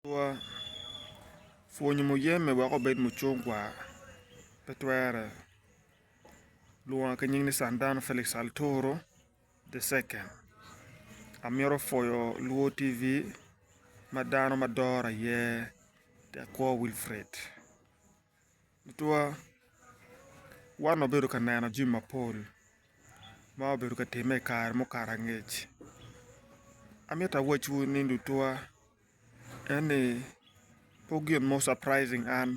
Adwowa, Pwonyo muyeme wek obed mucungwa pe twere. Lwonga ki nying ni Sandano Felix Altoro the second. Amito pwoyo Luo TV ma dano ma dora iye Tekwo Wilfred. tutwa wan wabedo ka neno jami mapol ma obedo ka timme i kare mukato angec amito awacwu ni tutwa en ni pe gin mo surprising an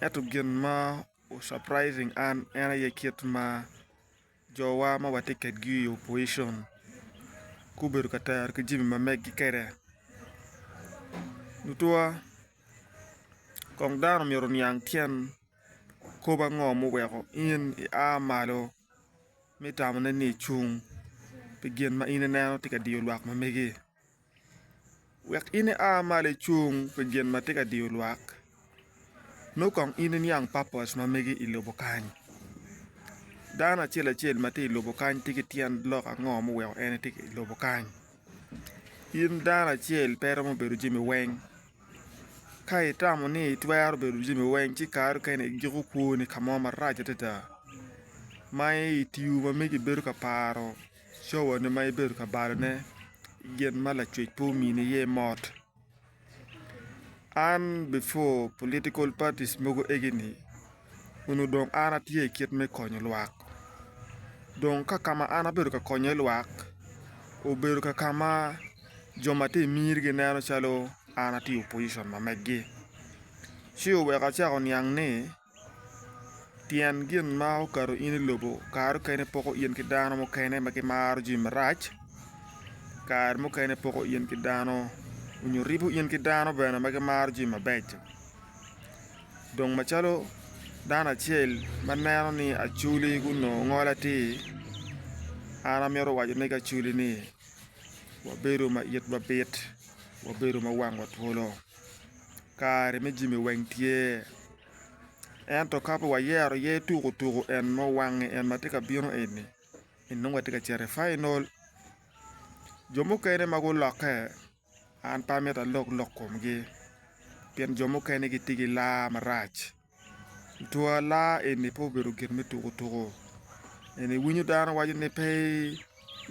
ento gin ma surprising an en aye kit ma Jowa ma watye kwedgi i opocion gubedo ka tero ki jami ma meggi kwede tutwa kong dano myero oniang tyen kop ango ma oweko in ia malo me tamone ni icung pi gin ma in ineno tye ka diyo lwak ma megi. Wek in ia malo icung pi gin ma tye ka diyo lwak, nongo kong in iniang papos ma mege i lobo kany. Dano acel acel ma tye i lobo kany tye ki tyen lok ango ma oweko en tye i lobo kany. In dano acel pe iromo bedo jami weng, ka itamo ni itwero bedo jami weng ci kare mukene igiko kwoni ka mo marac adada ma i tiyo ma megi ibedo ka paro. Cowani ma ibedo ka balone gin ma lacwec pe omini iye mot. An before political parties mogo egini onongo dong an atye i kit me konyo lwak dong ka ka ma an abedo ka konyo iye lwak obedo ka ka ma jo ma tye i miri gineno calo an atye i opposition ma meggi ci oweko acako oniang ni Tyen gin ma okato in i lobo kare mukene poko in ki dano mukene ma gimaro jami marac kare mukene poko in ki dano nyo ribo in ki dano bene ma gimaro jami mabeco dong macalo dano acel ma neno ni acwli ki onongo ngol atir an amito waco ne ki acwli ni wabedo ma itwa bit wabedo ma wangwa twolo. Kare me jami weng tye ento ka pe wayero aye tuko tuko en ma owange en ma tye ka bino eni nongo watye ka cito i final jo mukene ma gulokke an pe amito alok lok komgi pien jo mukene gitye ki laa marac twaa laa eni pe obedo gin me tuko tuko eni iwinyo dano waco ni pe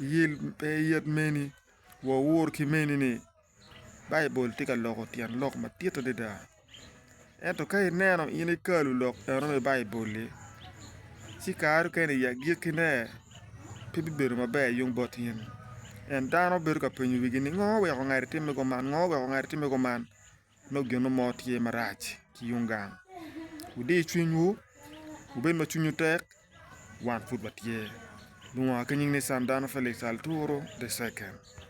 iyel pe iyet meni wa owor ki meni ni Baibul tye ka loko tyen lok madit adada ento ka ineno in ikalu lok eno me Baibul-li ci kare mukene i agikkine pe bibedo maber yung bot in pien dano bedo ka penyo wigi ni ngo oweko ngati timme kuman ngo oweko ngati timme kuman nongo gin mo tye marac ki yung gang wudi cwinywu wubed ma cwinywu tek wan pud watye lungwa ki nying nican dano Feliks Aluru the second.